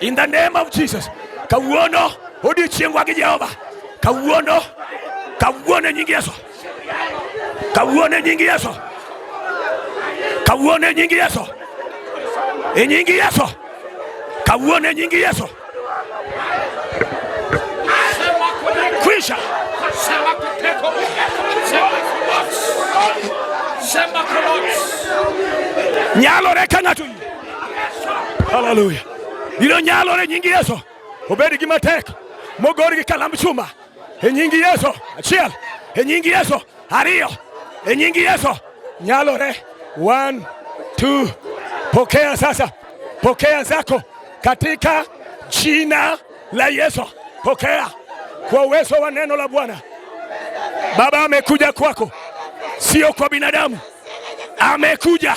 In the name of Jesus. Kawuono odiechiengwa gi Jehova. Kawuono kawuono e nying Yesu. Kawuono e nying Yesu. Kawuono e nying Yesu. E nying Yesu. Kawuono e nying Yesu. Kwisha. Sema kuteko. Sema kuteko. Sema kuteko. Nyalo reka ng'ato Haleluya! Biro nyalore nyingi Yesu, obed gi matek mogor gi kalamb chuma e nyingi Yesu. Achiel e nyingi Yesu, ariyo e nyingi Yesu, nyalore. One, two. Pokea sasa, pokea zako katika jina la Yesu. Pokea kwa uwezo wa neno la Bwana. Baba amekuja kwako, sio kwa binadamu, amekuja